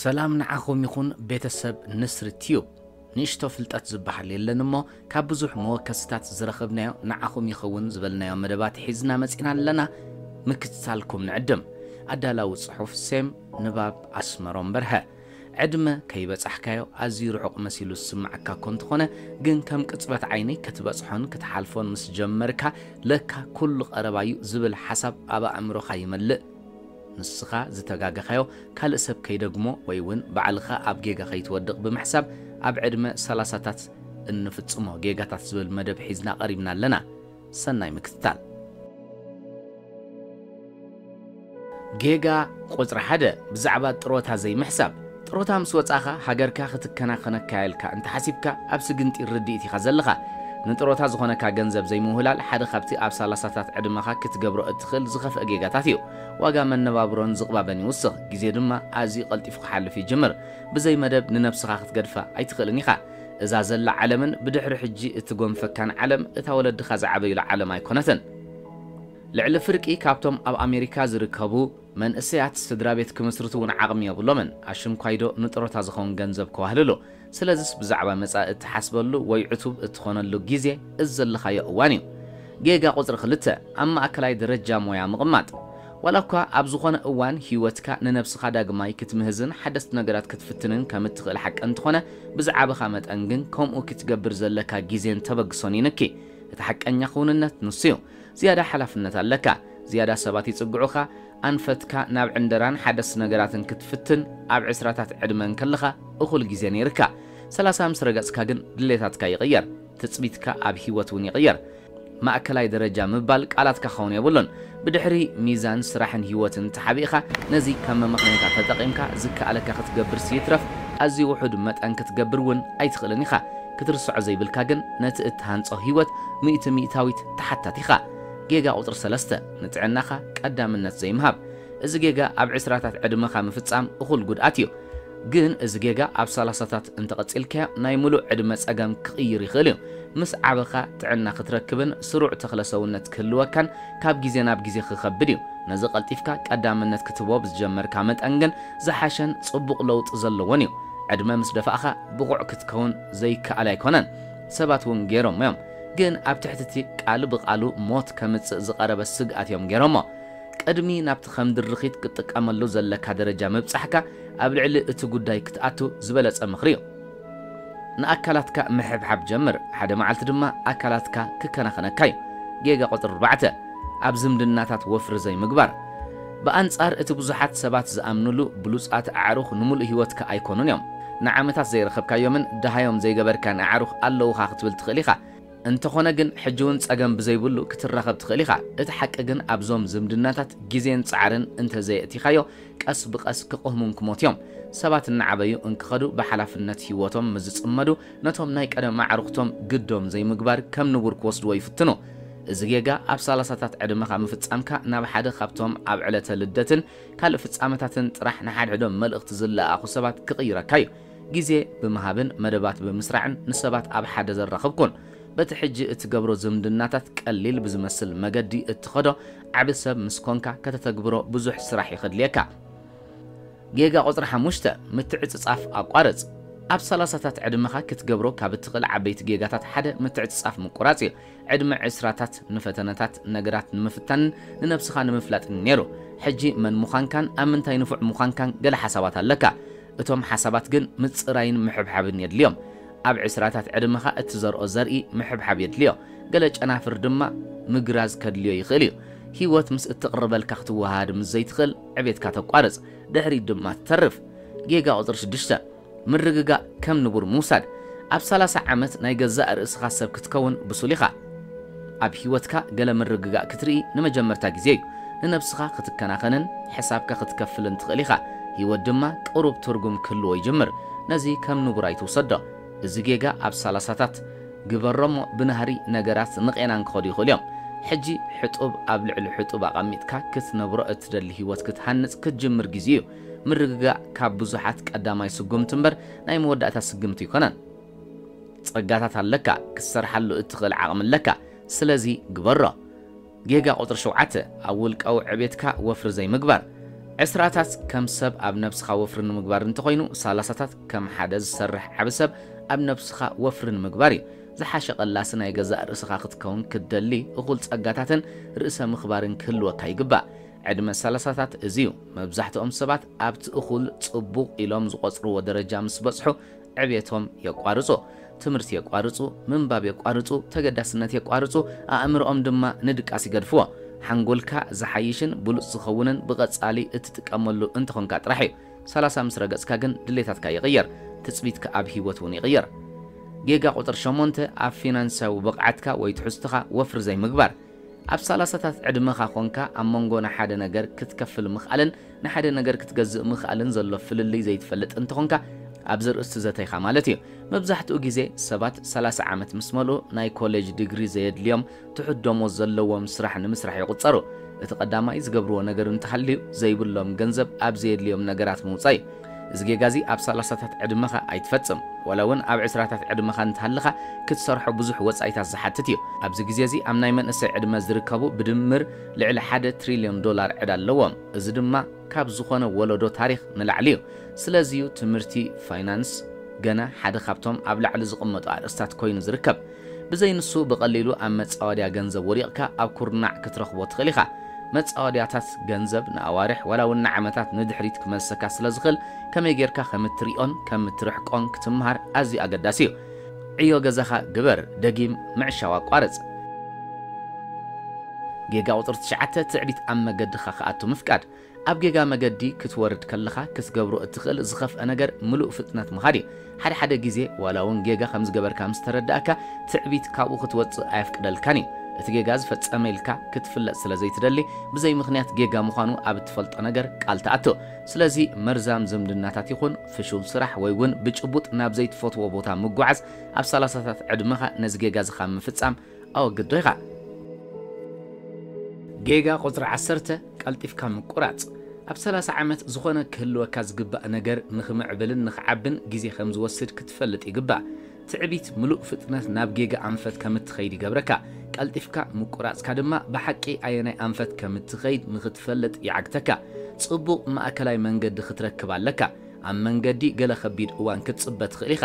ሰላም ንዓኹም ይኹን ቤተሰብ ንስሪ ቲዩብ ንእሽቶ ፍልጠት ዝበሃል የለን እሞ ካብ ብዙሕ መወከስታት ዝረኸብናዮ ንዓኹም ይኸውን ዝበልናዮ መደባት ሒዝና መፂና ኣለና ምክትታልኩም ንዕድም ኣዳላዊ ጽሑፍ ሴም ንባብ ኣስመሮም በርሀ ዕድመ ከይበጻሕካዮ ኣዝዩ ርሑቕ መሲሉ ዝስምዓካ እኮ እንተኾነ ግን ከም ቅጽበት ዓይኒ ክትበጽሖን ክትሓልፎን ምስ ጀመርካ ለካ ኩሉ ቀረባ'ዩ ዝብል ሓሳብ ኣብ ኣእምሮኻ ይመልእ። ንስኻ ዝተጋገኻዮ ካልእ ሰብ ከይደግሞ ወይ እውን ባዕልኻ ኣብ ጌጋ ከይትወድቕ ብምሕሳብ ኣብ ዕድመ ሰላሳታት እንፍጽሞ ጌጋታት ዝብል መደብ ሒዝና ቀሪብና ኣለና። ሰናይ ምክትታል። ጌጋ ቁጽሪ ሓደ ብዛዕባ ጥሮታ ዘይምሕሳብ። ጥሮታ ምስ ወጻኻ ሃገርካ ክትከናኸነካ'ያ ኢልካ እንተ ሓሲብካ ኣብ ስግንጢር ርድኢት ኢኻ ዘለኻ። ንጥሮታ ዝኾነካ ገንዘብ ዘይምውህላል ሓደ ካብቲ ኣብ ሳላሳታት ዕድመኻ ክትገብሮ እትኽእል ዝኸፍኣ ጌጋታት እዩ። ዋጋ መነባብሮን ዝቕባበን ይውስኽ፣ ግዜ ድማ ኣዝዩ ቀልጢፉ ክሓልፍ ይጅምር። ብዘይ መደብ ንነብስኻ ክትገድፋ ኣይትኽእልን ኢኻ። እዛ ዘላ ዓለምን ብድሕሪ ሕጂ እትጎንፈካን ዓለም እታ ወለድኻ ዝዓበዩላ ዓለም ኣይኮነትን። ልዕሊ ፍርቂ ካብቶም ኣብ ኣሜሪካ ዝርከቡ መንእሰያት ስድራቤት ክምስርቱ እውን ዓቕሚ የብሎምን፣ ኣሽንኳይዶ ንጥሮታ ዝኸውን ገንዘብ ከዋህልሉ። ስለዚስ ብዛዕባ መጻኢ እትሓስበሉ ወይ ዕቱብ እትኾነሉ ግዜ እዚ ዘለኻዮ እዋን እዩ። ጌጋ ቁጽሪ ክልተ፣ ኣብ ማእከላይ ደረጃ ሞያ ምቕማጥ። ዋላ እኳ ኣብ ዝኾነ እዋን ህይወትካ ንነብስኻ ዳግማይ ክትምህዝን ሓደስቲ ነገራት ክትፍትንን ከም እትኽእል ሓቂ እንተኾነ፣ ብዝዓበኻ መጠን ግን ከምኡ ኪትገብር ዘለካ ጊዜን ተበግሶን ይንኪ። እቲ ሓቀኛ ክውንነት ንሱ'ዩ። ዝያዳ ሓላፍነት ኣለካ። ዝያዳ ሰባት ይጽግዑኻ። ኣንፈትካ ናብ ዕንደራን ሓደስቲ ነገራትን ክትፍትን ኣብ ዕስራታት ዕድመ እንከለኻ እኹል ጊዜ ነይርካ። ሰላሳ ምስ ረገጽካ ግን ድሌታትካ ይቕየር። ትጽቢትካ ኣብ ህይወት እውን ይቕየር። ማእከላይ ደረጃ ምባል ቃላትካ ክኸውን የብሉን። ብድሕሪ ሚዛን ስራሕን ህይወትን ተሓቢእኻ ነዚ ከም መመኽነይታ ተጠቒምካ ዝከኣለካ ክትገብርስ ይትረፍ ኣዝዩ ውሑድ መጠን ክትገብር እውን ኣይትኽእልን ኢኻ። ክትርስዖ ዘይብልካ ግን ነቲ እትሃንጾ ህይወት ሚእቲ ሚእታዊት ተሓታቲ ኢኻ። ጌጋ ቁጽሪ ሰለስተ፣ ንጥዕናኻ ቀዳምነት ዘይምሃብ። እዚ ጌጋ ኣብ ዕስራታት ዕድመኻ ምፍጻም እኹል ጉድኣት እዩ። ግን እዚ ጌጋ ኣብ ሰላሳታት እንተቐጺልካዮ ናይ ምሉእ ዕድመ ጸገም ክቕይር ይኽእል እዩ። ምስ ዓበኻ ጥዕና ክትረክብን ስሩዕ ተኽለ ሰውነት ክህልወካን ካብ ግዜ ናብ ግዜ ክኸብድ እዩ። ነዚ ቀልጢፍካ ቀዳምነት ክትህቦ ብዝጀመርካ መጠን ግን ዝሓሸን ጽቡቕ ለውጢ ዘለዎን እዩ። ዕድመ ምስ ደፋእኻ ብቑዕ ክትከውን ዘይከኣል ኣይኮነን። ሰባት እውን ገይሮሞ እዮም። ግን ኣብ ትሕቲ እቲ ቃል ብቓሉ ሞት ከምጽእ ዝቐረበ ስግኣት እዮም ገይሮሞ። ቅድሚ ናብቲ ከም ድርኺት ክትጥቀመሉ ዘለካ ደረጃ ምብጻሕካ ኣብ ልዕሊ እቲ ጉዳይ ክትኣቱ ዝበለጸ ምኽሪ እዩ። ንኣካላትካ ምሕብሓብ ጀምር፣ ሓደ መዓልቲ ድማ ኣካላትካ ክከናኸነካ እዩ። ጌጋ ቁጽሪ ኣርባዕተ፣ ኣብ ዝምድናታት ወፍሪ ዘይምግባር። ብኣንጻር እቲ ብዙሓት ሰባት ዝኣምኑሉ፣ ብሉጻት ኣዕሩኽ ንምሉእ ህይወትካ ኣይኰኑን እዮም። ንዓመታት ዘይረኸብካዮምን ደሃዮም ዘይገበርካን ኣዕሩኽ ኣለዉኻ ክትብል ትኽእል ኢኻ። እንተኾነ ግን ሕጂውን ጸገም ብዘይብሉ ክትራኸብ ትኽእል ኢኻ። እቲ ሓቂ ግን ኣብዞም ዝምድናታት ግዜን ጻዕርን እንተዘየእቲኻዮ ቀስ ብቐስ ክቕህሙን ክሞትዮ'ም። ሰባት እናዓበዩ እንክኸዱ ብሓላፍነት ህይወቶም ምስ ዝጽመዱ ነቶም ናይ ቀደም ኣዕሩኽቶም ግዶም ዘይምግባር ከም ንቡር ክወስድዎ ይፍትኑ። እዚ ጌጋ ኣብ ሰላሳታት ዕድመኻ ምፍጻምካ ናብ ሓደ ካብቶም ኣብ ዕለተ ልደትን ካልእ ፍጻመታትን ጥራሕ ንሓድሕዶም መልእኽቲ ዝለኣኣኹ ሰባት ክቕይረካ'ዩ። ግዜ ብምሃብን መደባት ብምስራዕን ንሰባት ኣብ ሓደ ዘራኽብኩን በቲ ሕጂ እትገብሮ ዝምድናታት ቀሊል ብዝመስል መገዲ እትኸዶ ዓቢ ሰብ ምስ ኰንካ ከተተግብሮ ብዙሕ ስራሕ እዩ ከድልየካ። ጌጋ ቁጽሪ ሓሙሽተ፣ ምትዕጽጻፍ ኣቋርጽ። ኣብ ሰላሳታት ዕድመኻ ክትገብሮ ካብ እትኽእል ዓበይቲ ጌጋታት ሓደ ምትዕጽጻፍ ምቁራጽ እዩ። ዕድመ ዕስራታት ንፈተነታት ነገራት ንምፍታንን ንነብስኻ ንምፍላጥን እዩ ነይሩ። ሕጂ መን ምዃንካን ኣብ ምንታይ ንፉዕ ምዃንካን ገለ ሓሳባት ኣለካ። እቶም ሓሳባት ግን ምጽራይን ምሕብሓብን የድልዮም። ኣብ ዕስራታት ዕድመኻ እትዘርኦ ዘርኢ ምሕብሓብ የድልዮ። ገለ ጨናፍር ድማ ምግራዝ ከድልዮ ይኽእል እዩ። ህይወት ምስ እትቕርበልካ ክትወሃሃድ ምስ ዘይትኽእል ዕቤትካ ተቋርጽ። ድሕሪት ድማ ትተርፍ። ጌጋ ቁጽሪ ሽዱሽተ። ምርግጋእ ከም ንቡር ምውሳድ። ኣብ ሰላሳ ዓመት ናይ ገዛእ ርእስኻ ሰብ ክትከውን ብሱል ኢኻ። ኣብ ህይወትካ ገለ ምርግጋእ ክትርኢ ንመጀመርታ ግዜ እዩ። ንነብስኻ ክትከናኸንን ሕሳብካ ክትከፍልን ትኽእል ኢኻ። ህይወት ድማ ቅሩብ ትርጉም ክህልዎ ይጅምር። ነዚ ከም ንቡር ኣይትውሰዶ። እዚ ጌጋ ኣብ ሰላሳታት ግበሮ'ሞ ብናህሪ ነገራት ንቄናን ክኸዱ ይኽእሉ እዮም። ሕጂ ሕጡብ ኣብ ልዕሊ ሕጡብ ኣቐሚጥካ ክትነብሮ እትደሊ ህይወት ክትሃንጽ ክትጅምር ግዜኡ እዩ። ምርግጋእ ካብ ብዙሓት ቀዳማይ ስጉምቲ እምበር ናይ መወዳእታ ስግምቲ ኣይኮነን። ጸጋታት ኣለካ፣ ክትሰርሓሉ እትኽእል ዓቕሚ ኣለካ፣ ስለዚ ግበሮ። ጌጋ ቁጽሪ ሸውዓተ፣ ኣብ ውልቃዊ ዕቤትካ ወፍሪ ዘይምግባር። ዕስራታት ከም ሰብ ኣብ ነብስኻ ወፍሪ ንምግባር እንተኾይኑ፣ ሳላሳታት ከም ሓደ ዝሰርሕ ዓቢ ሰብ ኣብ ነብስኻ ወፍሪ ንምግባር እዩ። ዝሓሸ ቀላሲ ናይ ገዛእ ርእስኻ ክትከውን ክትደሊ፣ እኹል ጸጋታትን ርእሰ ምኽባርን ክህልወካ ይግባእ። ዕድመ ሰላሳታት እዚ'ዩ መብዛሕትኦም ሰባት ኣብቲ እኹል፣ ጽቡቕ፣ ኢሎም ዝቖጽርዎ ደረጃ ምስ በጽሑ ዕብየቶም የቋርጹ። ትምህርቲ የቋርጹ፣ ምንባብ የቋርጹ፣ ተገዳስነት የቋርጹ፣ ኣእምሮኦም ድማ ንድቃስ ይገድፍዎ። ሓንጎልካ ዝሓይሽን ብሉጽ ዝኸውንን ብቐጻሊ እትጥቀመሉ እንተኾንካ ጥራሕ'ዩ። ሰላሳ ምስ ረገጽካ ግን ድሌታትካ ይቕየር፣ ትጽቢትካ ኣብ ህይወት እውን ይቕየር። ጌጋ ቁጽሪ ሸሞንተ ኣብ ፊናንስያዊ ብቕዓትካ ወይ ትሕዝቶኻ ወፍሪ ዘይምግባር። ኣብ ሰላሳታት ዕድመኻ ኾንካ ኣብ መንጎ ንሓደ ነገር ክትከፍል ምኽኣልን ንሓደ ነገር ክትገዝእ ምኽኣልን ዘሎ ፍልልይ ዘይትፈልጥ እንተኾንካ ኣብዚ ኣርእስቲ ዘተይኻ ማለት እዩ። መብዛሕትኡ ግዜ ሰባት ሰላሳ ዓመት ምስ መልኡ ናይ ኮሌጅ ዲግሪ ዘየድልዮም ትሑት ደሞዝ ዘለዎም ስራሕ ንምስራሕ ይቑፀሩ። እቲ ቀዳማይ ዝገብርዎ ነገር እንተሃልዩ ዘይብሎም ገንዘብ ኣብ ዘየድልዮም ነገራት ምውፃእ እዩ። እዚ ጌጋ'ዚ ኣብ ሰላሳታት ዕድመኻ ኣይትፈጽም። ዋላ እውን ኣብ ዕስራታት ዕድመኻ እንተሃለኻ ክትሰርሖ ብዙሕ ወጻኢታት ዝሓትት እዩ። ኣብዚ ግዜ'ዚ ኣብ ናይ መንእሰይ ዕድመ ዝርከቡ ብድምር ልዕሊ ሓደ ትሪልዮን ዶላር ዕዳ ኣለዎም። እዚ ድማ ካብ ዝኾነ ወለዶ ታሪኽ ንላዕሊ እዩ። ስለዚ'ዩ ትምህርቲ ፋይናንስ ገና ሓደ ካብቶም ኣብ ላዕሊ ዝቕመጡ ኣርእስታት ኮይኑ ዝርከብ። ብዘይ ንሱ ብቐሊሉ ኣብ መጻወድያ ገንዘብ ወዲቕካ ኣብ ኩርናዕ ክትረኽቦ ትኽእል ኢኻ። መጻወድያታት ገንዘብ ንኣዋርሕ ዋላ እውን ንዓመታት ንድሕሪት ክመልሰካ ስለ ዝኽእል ከመይ ጌርካ ከም እትሪኦን ከም እትርሕቆን ክትምሃር ኣዝዩ ኣገዳሲ እዩ። ዕዮ ገዛኻ ግበር፣ ደጊም ምዕሻው ኣቋርጽ። ጌጋ ቁጽሪ ትሽዓተ፣ ትዕቢት ኣብ መገድኻ ክኣቱ ምፍቃድ። ኣብ ጌጋ መገዲ ክትወርድ ከለኻ ክትገብሮ እትኽእል ዝኸፍኣ ነገር ምሉእ ፍጥነት ምኻድ እዩ። ሓደ ሓደ ግዜ ዋላ እውን ጌጋ ከም ዝገበርካ ምስ ተረድኣካ ትዕቢት ካብኡ ክትወጽእ ኣየፍቅደልካን እዩ። እቲ ጌጋ ዝፈጸመ ኢልካ ክትፍለጥ ስለ ዘይትደሊ ብዘይ ምኽንያት ጌጋ ምዃኑ ኣብ እትፈልጦ ነገር ቃል ትኣቱ። ስለዚ መርዛም ዝምድናታት ይኹን ፍሹል ስራሕ ወይ እውን ብጭቡጥ ናብ ዘይትፈትዎ ቦታ ምጉዓዝ ኣብ ሰላሳታት ዕድመኻ ነዚ ጌጋ እዚ ካብ ምፍጻም ኣወግዶ ኢኻ። ጌጋ ቁጽሪ ዓሰርተ፣ ቀልጢፍካ ምቁራጽ። ኣብ ሰላሳ ዓመት ዝኾነ ክህልወካ ዝግባእ ነገር ንኽምዕብልን ንኽዓብን ግዜ ከም ዝወስድ ክትፈልጥ ይግባእ። ትዕቢት ምሉእ ፍጥነት ናብ ጌጋ ኣንፈት ከም እትኸይድ ይገብረካ። ቀልጢፍካ ምቁራጽካ ድማ ብሓቂ ኣየናይ ኣንፈት ከም እትኸይድ ንኽትፈልጥ ይዓግተካ። ጽቡቕ ማእከላይ መንገዲ ክትረክብ ኣለካ። ኣብ መንገዲ ገለ ከቢድ እዋን ክትጽበ ትኽእል ኢኻ።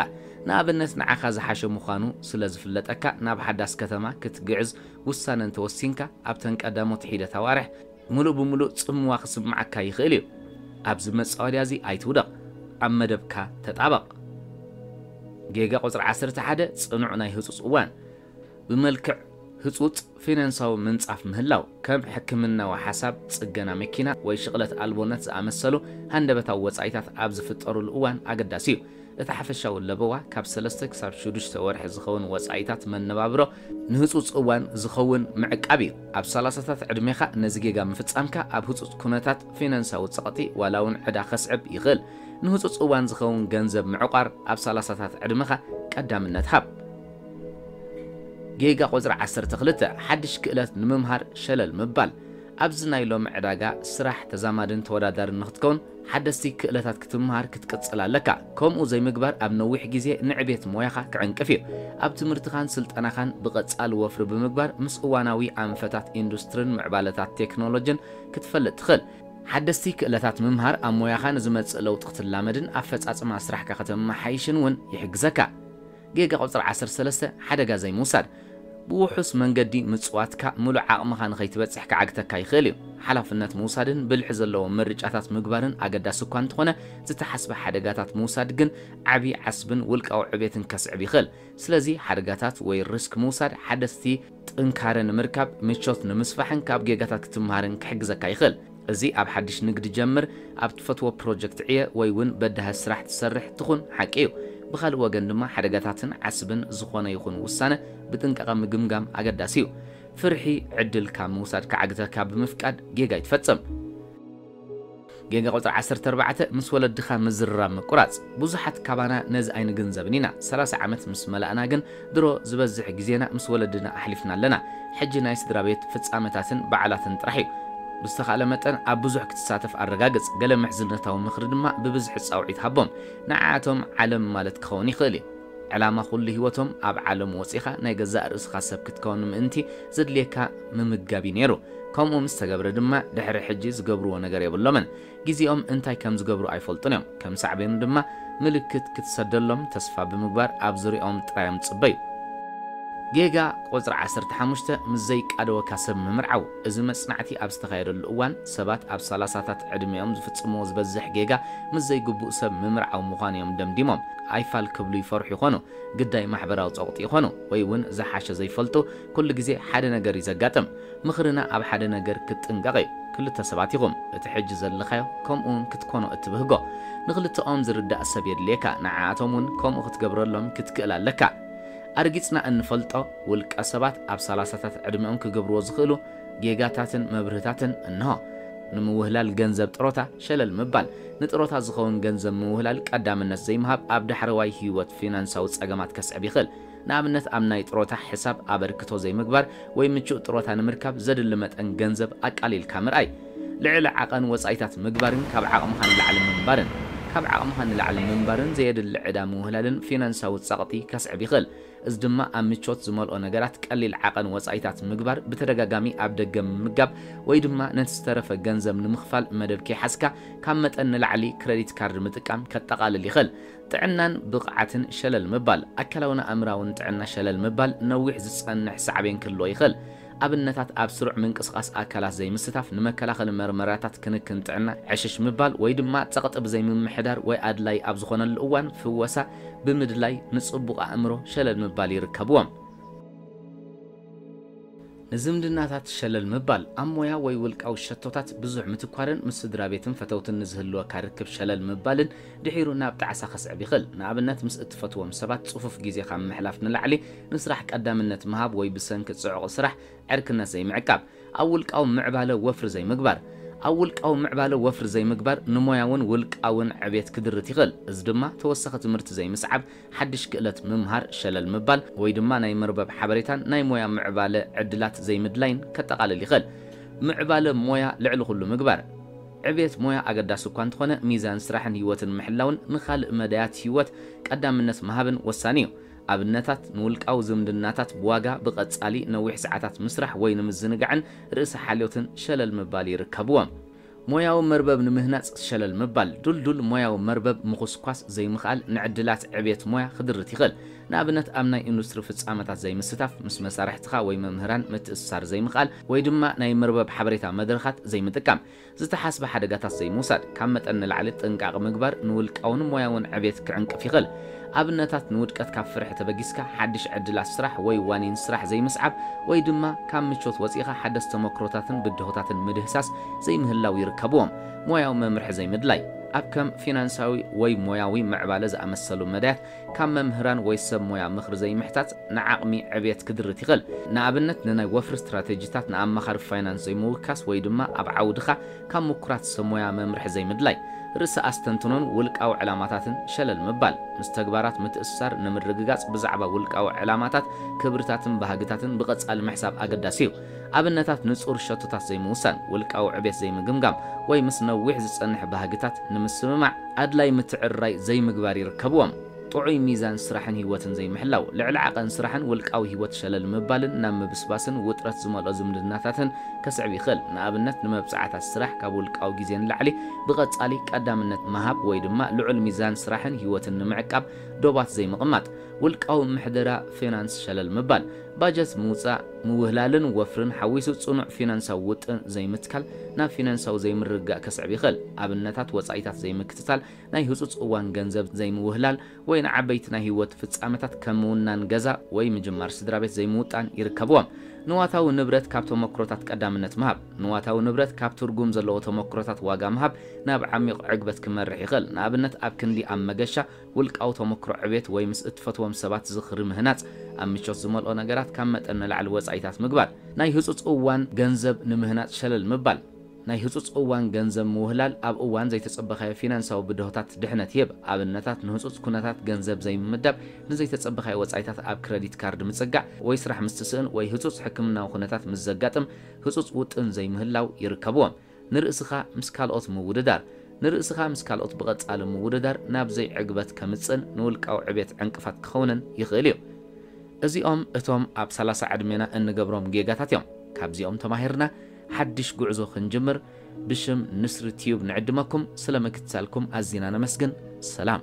ንኣብነት ንዓኻ ዝሓሸ ምዃኑ ስለ ዝፍለጠካ ናብ ሓዳስ ከተማ ክትግዕዝ ውሳነ እንተ ወሲንካ ኣብተን ቀዳሞት ሒደት ኣዋርሕ ምሉእ ብምሉእ ጽምዋ ክስምዓካ ይኽእል እዩ። ኣብዚ መጻወድያ እዚ ኣይትውደቕ። ኣብ መደብካ ተጣበቕ። ጌጋ ቁጽሪ ዓሰርተ ሓደ፣ ጽኑዕ ናይ ህጹጽ እዋን። ብመልክዕ ህጹጽ ፊናንሳዊ ምንጻፍ ምህላው፣ ከም ሕክምናዊ ሓሳብ፣ ጽገና መኪና፣ ወይ ሽቕለት ኣልቦነት ዝኣመሰሉ ሃንደበታዊ ወጻኢታት ኣብ ዝፍጠሩሉ እዋን ኣገዳሲ እዩ። እቲ ሓፈሻዊ ለበዋ ካብ ሰለስተ ክሳብ ሽዱሽተ ወርሒ ዝኸውን ወጻኢታት መነባብሮ ንህጹጽ እዋን ዝኸውን ምዕቃብ እዩ። ኣብ ሰላሳታት ዕድሜኻ ነዚ ጌጋ ምፍጻምካ ኣብ ህጹጽ ኩነታት ፊናንሳዊ ጸቕጢ ዋላ እውን ዕዳ ከስዕብ ይኽእል። ንህጹጽ እዋን ዝኸውን ገንዘብ ምዕቋር ኣብ ሰላሳታት ዕድመኻ ቀዳምነት ሃብ። ጌጋ ቁጽሪ ዓሰርተ ክልተ፣ ሓድሽ ክእለት ንምምሃር ሸለል ምባል። ኣብዚ ናይ ሎሚ ዕዳጋ ስራሕ ተዛማድን ተወዳዳርን ንኽትከውን ሓደስቲ ክእለታት ክትምሃር ክትቅጽል ኣለካ። ከምኡ ዘይምግባር ኣብ ነዊሕ ግዜ ንዕቤት ሞያኻ ክዕንቅፍ እዩ። ኣብ ትምህርትኻን ስልጠናኻን ብቐጻሊ ወፍሪ ብምግባር ምስ እዋናዊ ኣንፈታት ኢንዱስትርን ምዕባለታት ቴክኖሎጅን ክትፈልጥ ትኽእል። ሓደስቲ ክእለታት ምምሃር ኣብ ሞያኻ ንዝመጽእ ለውጢ ክትላመድን ኣፈጻጽማ ስራሕካ ከተመሓይሽን እውን ይሕግዘካ። ጌጋ ቁጽሪ ዓሰርተ ሰለስተ፣ ሓደጋ ዘይምውሳድ። ብውሑስ መንገዲ ምጽዋትካ ምሉእ ዓቕምኻ ንኸይትበጽሕ ክዓግተካ ይኽእል እዩ። ሓላፍነት ምውሳድን ብልሒ ዘለዎም ምርጫታት ምግባርን ኣገዳሲ እኳ እንተኾነ፣ ዝተሓስበ ሓደጋታት ምውሳድ ግን ዓቢ ዓስብን ውልቃዊ ዕቤትን ከስዕብ ይኽእል። ስለዚ ሓደጋታት ወይ ሪስክ ምውሳድ ሓደስቲ። ጥንካረ ንምርካብ፣ ምቾት ንምስፋሕን ካብ ጌጋታት ክትመሃርን ክሕግዘካ ይኽእል። እዚ ኣብ ሓድሽ ንግዲ ጀምር፣ ኣብ ትፈትዎ ፕሮጀክት ዕየ ወይ እውን በዳሂ ስራሕ ትሰርሕ ትኹን ሓቂ እዩ። ብኻልእ ወገን ድማ ሓደጋታትን ዓስብን ዝኾነ ይኹን ውሳነ ብጥንቃቐ ምግምጋም ኣገዳሲ እዩ። ፍርሒ ዕድል ካብ ምውሳድ ክዓግተካ ብምፍቃድ ጌጋ ኣይትፈጽም። ጌጋ ቁጽሪ ዓሰርተ ኣርባዕተ፣ ምስ ወለድኻ ምዝርራብ ምቁራጽ። ብዙሓት ካባና ነዚ ኣይንግንዘብን ኢና። ሰላሳ ዓመት ምስ መላእና ግን ድሮ ዝበዝሕ ግዜና ምስ ወለድና ኣሕሊፍና ኣለና። ሕጂ ናይ ስድራቤት ፍጻመታትን በዓላትን ጥራሕ እዩ። ብዝተኻእለ መጠን ኣብ ብዙሕ ክትሳተፍ ኣረጋግጽ፣ ገለ ምሕዝነታዊ ምኽሪ ድማ ብብዝሒ ጻውዒት ሃቦም። ንዓኣቶም ዓለም ማለት ክኸውን ይኽእል እዩ። ዕላማ ኩሉ ህይወቶም ኣብ ዓለም ወጺኻ ናይ ገዛእ ርእስኻ ሰብ ክትከውን ምእንቲ ዘድልየካ ምምጋብ እዩ ነይሩ ከምኡ ምስ ተገብረ ድማ ድሕሪ ሕጂ ዝገብርዎ ነገር የብሎምን ግዜኦም እንታይ ከም ዝገብሩ ኣይፈልጡን እዮም ከም ሳዕቤኑ ድማ ምልክት ክትሰደሎም ተስፋ ብምግባር ኣብ ዙርያኦም ጥራዮም ዝጽበዩ ጌጋ ቁጽሪ ዓሰርተ ሓሙሽተ ምስ ዘይቃደወካ ሰብ ምምርዓው እዚ መጽናዕቲ ኣብ ዝተኻየደሉ እዋን ሰባት ኣብ ሰላሳታት ዕድሜኦም ዝፍጽምዎ ዝበዝሕ ጌጋ ምስ ዘይግቡእ ሰብ ምምርዓው ምዃኑ እዮም ደምዲሞም ኣይፋል ክብሉ ይፈርሑ ይኾኑ ግዳይ ማሕበራዊ ጸቕጢ ይኾኑ ወይ እውን ዝሓሸ ዘይፈልጡ ኩሉ ግዜ ሓደ ነገር እዩ ዘጋጥም ምኽርና ኣብ ሓደ ነገር ክትጥንቀቕ እዩ ክልተ ሰባት ኢኹም እቲ ሕጂ ዘለኻዮ ከምኡ እውን ክትኮኖ እትብህጎ ንኽልተኦም ዝርዳእ ሰብ የድልየካ ንዓኣቶም እውን ከምኡ ክትገብረሎም ክትክእል ኣለካ ኣርጊጽና እንፈልጦ ውልቀ ሰባት ኣብ ሰላሳታት ዕድሚኦም ክገብርዎ ዝኽእሉ ጌጋታትን መብርህታትን እንሆ። ንምውህላል ገንዘብ ጥሮታ ሸለል ምባል፣ ንጥሮታ ዝኸውን ገንዘብ ምውህላል ቀዳምነት ዘይምሃብ ኣብ ዳሕረዋይ ህይወት ፊናንሳዊ ጸገማት ከስዕብ ይኽእል። ንኣብነት ኣብ ናይ ጥሮታ ሕሳብ ኣበርክቶ ዘይምግባር ወይ ምቹእ ጥሮታ ንምርካብ ዘድሊ መጠን ገንዘብ ኣቃሊልካ ምርኣይ። ልዕሊ ዓቐን ወጻኢታት ምግባርን ካብ ዓቕምኻ ንላዕሊ ምንባርን። ካብ ዓቕምኻ ንላዕሊ ምንባርን ዘየድሊ ዕዳ ምውህላልን ፊናንሳዊ ጸቕጢ ከስዕብ ይኽእል። እዚ ድማ ኣብ ምቾት ዝመልኦ ነገራት ቀሊል ዓቐን ወጻኢታት ምግባር፣ ብተደጋጋሚ ኣብ ደገ ምምጋብ፣ ወይ ድማ ነቲ ዝተረፈ ገንዘብ ንምኽፋል መደብ ከይሓዝካ ካብ መጠን ንላዕሊ ክረዲት ካርድ ምጥቃም ከጠቓልል ይኽእል። ጥዕናን ብቕዓትን ሸለል ምባል፣ ኣካላውን ኣእምሮኣውን ጥዕና ሸለል ምባል ነዊሕ ዝጸንሕ ሳዕቤን ክህልዎ ይኽእል። ኣብነታት ኣብ ስሩዕ ምንቅስቓስ ኣካላት ዘይምስታፍ፣ ንመከላኸሊ መርመራታት ክንክን ጥዕና ዕሽሽ ምባል፣ ወይ ድማ ጸቕጢ ብዘይ ምምሕዳር ወይ ኣድላዪ ኣብ ዝኾነሉ እዋን ፍወሳ ብምድላይ ንጽቡቕ ኣእምሮ ሸለል ምባል ይርከብዎም። ንዝምድናታት ሸለል ምባል፣ ኣብ ሞያ ወይ ውልቃዊ ሸቶታት ብዙሕ ምትኳርን ምስ ስድራቤትን ፈተውትን ንዝህልወካ ርክብ ሸለል ምባልን ድሒሩ ናብ ጣዕሳ ከስዕብ ይኽእል። ንኣብነት ምስ እትፈትዎም ሰባት ጽፉፍ ግዜኻ ምሕላፍ ንላዕሊ፣ ንስራሕ ቀዳምነት ምሃብ ወይ ብሰንኪ ጽዑቕ ስራሕ ዕርክነት ዘይምዕቃብ። ኣብ ውልቃዊ ምዕባለ ወፍሪ ዘይምግባር። ኣብ ውልቃዊ ምዕባለ ወፍሪ ዘይምግባር ንሞያውን ውልቃውን ዕቤት ክድርት ይኽእል፣ እዚ ድማ ተወሳኺ ትምህርቲ ዘይምስዓብ፣ ሓድሽ ክእለት ምምሃር ሸለል ምባል፣ ወይ ድማ ናይ መርበብ ሓበሬታን ናይ ሞያ ምዕባለ ዕድላት ዘይምድላይን ከጠቓልል ይኽእል። ምዕባለ ሞያ ልዕሊ ኩሉ ምግባር። ዕቤት ሞያ ኣገዳሲ እኳ እንተኾነ፣ ሚዛን ስራሕን ህይወትን ምሕላውን ንኻልእ መዳያት ህይወት ቀዳምነት ምሃብን ወሳኒ እዩ። ኣብነታት፣ ንውልቃዊ ዝምድናታት ብዋጋ፣ ብቐጻሊ ነዊሕ ሰዓታት ምስራሕ ወይ ንምዝንጋዕን ርእሰ ሓልዮትን ሸለል ምባል ይርከብዎም። ሞያዊ መርበብ ንምህናጽ ሸለል ምባል፣ ድልዱል ሞያዊ መርበብ ምኹስኳስ ዘይምኽኣል ንዕድላት ዕብየት ሞያ ክድርት ይኽእል። ንኣብነት፣ ኣብ ናይ ኢንዱስትሪ ፍጻመታት ዘይምስታፍ፣ ምስ መሳርሕትኻ ወይ መምህራን ምትእስሳር ዘይምኽኣል፣ ወይ ድማ ናይ መርበብ ሓበሬታ መድረኻት ዘይምጥቃም። ዝተሓስበ ሓደጋታት ዘይምውሳድ፣ ካብ መጠን ንላዕሊ ጥንቃቐ ምግባር ንውልቃውን ሞያውን ዕቤት ክዕንቅፍ ይኽእል። ኣብነታት፣ ንውድቀት ካብ ፍርሒ ተበጊስካ ሓድሽ ዕድላት ስራሕ ወይ ዋኒን ስራሕ ዘይምስዓብ፣ ወይ ድማ ካብ ምቾት ወጺእኻ ሓደስቲ ተሞክሮታትን ብድሆታትን ምድህሳስ ዘይምህላው ይርከብዎም። ሞያዊ መምርሒ ዘይምድላይ፣ ኣብ ከም ፊናንሳዊ ወይ ሞያዊ ምዕባለ ዝኣመሰሉ መዳያት ካብ መምህራን ወይ ሰብ ሞያ ምኽሪ ዘይምሕታት ንዓቕሚ ዕብየት ክድርት ይኽእል። ንኣብነት ንናይ ወፍሪ ስትራቴጂታት ንኣማኻሪ ፋይናንስ ዘይምውካስ ወይ ድማ ኣብ ዓውድኻ ካብ ምኩራት ሰብ ሞያ መምርሒ ዘይምድላይ። ርእሰ ኣስተንትኖን ውልቃዊ ዕላማታትን ሸለል ምባል። ምስ ተግባራት ምትእስሳር ንምርግጋጽ ብዛዕባ ውልቃዊ ዕላማታት፣ ክብርታትን ባህግታትን ብቐጻሊ ምሕሳብ ኣገዳሲ እዩ። ኣብነታት ንጹር ሸቶታት ዘይምውሳን፣ ውልቃዊ ዕቤት ዘይምግምጋም፣ ወይ ምስ ነዊሕ ዝጸንሕ ባህግታት ንምስምማዕ ኣድላዪ ምትዕርራይ ዘይምግባር ይርከብዎም። ጥዑይ ሚዛን ስራሕን ህይወትን ዘይምሕላው፣ ልዕሊ ዓቐን ስራሕን ውልቃዊ ህይወት ሸለል ምባልን ናብ ምብስባስን ውጥረት ዝመልኦ ዝምድናታትን ከስዕብ ይኽእል፣ ንኣብነት ንመብጽዓታት ስራሕ ካብ ውልቃዊ ግዜ ንላዕሊ ብቐጻሊ ቀዳምነት ምሃብ ወይ ድማ ልዑል ሚዛን ስራሕን ህይወትን ንምዕቃብ ዶባት ዘይምቕማጥ፣ ውልቃዊ ምሕደራ ፊናንስ ሸለል ምባል። ባጀት ምውጻእ፣ ምውህላልን ወፍርን ሓዊሱ ጽኑዕ ፊናንሳዊ ውጥን ዘይምትካል ናብ ፊናንሳዊ ዘይምርግጋእ ከስዕብ ይኽእል። ኣብነታት ወጻኢታት ዘይምክትታል፣ ናይ ህጹጽ እዋን ገንዘብ ዘይምውህላል፣ ወይ ንዓበይቲ ናይ ህይወት ፍጻመታት ከም ምውናን ገዛ ወይ ምጅማር ስድራቤት ዘይምውጣን ይርከብዎም። ንዋታዊ ንብረት ካብ ተሞክሮታት ቀዳምነት ምሃብ፣ ንዋታዊ ንብረት ካብ ትርጉም ዘለዎ ተሞክሮታት ዋጋ ምሃብ ናብ ዓሚቕ ዕግበት ክመርሕ ይኽእል፣ ንኣብነት ኣብ ክንዲ ኣብ መገሻ፣ ውልቃዊ ተመክሮ ዕቤት ወይ ምስ እትፈትዎም ሰባት ዝኽሪ ምህናጽ፣ ኣብ ምቾት ዝመልኦ ነገራት ካብ መጠን ንላዕሊ ወጻኢታት ምግባር። ናይ ህጹጽ እዋን ገንዘብ ንምህናጽ ሸለል ምባል። ናይ ህጹጽ እዋን ገንዘብ ምውህላል ኣብ እዋን ዘይተጸበኻዮ ፊናንሳዊ ብድሆታት ድሕነት ይህብ። ኣብነታት ንህጹጽ ኩነታት ገንዘብ ዘይምምዳብ፣ ንዘይተጸበኻዮ ወጻኢታት ኣብ ክረዲት ካርድ ምጽጋዕ፣ ወይ ስራሕ ምስ ትስእን ወይ ህጹጽ ሕክምናዊ ኩነታት ምስ ዘጋጥም ህጹጽ ውጥን ዘይምህላው ይርከብዎም። ንርእስኻ ምስ ካልኦት ምውድዳር፣ ንርእስኻ ምስ ካልኦት ብቐጻሊ ምውድዳር ናብ ዘይዕግበት ከምጽእን ንውልቃዊ ዕብየት ዕንቅፋት ክኸውንን ይኽእል እዩ። እዚኦም እቶም ኣብ ሰላሳ ዕድሜና እንገብሮም ጌጋታት እዮም። ካብዚኦም ተማሂርና ሓድሽ ጉዕዞ ክንጅምር ብሽም ንስሪ ቲዩብ ንዕድመኩም፣ ስለ ምክትታልኩም ኣዚና ነመስግን። ሰላም!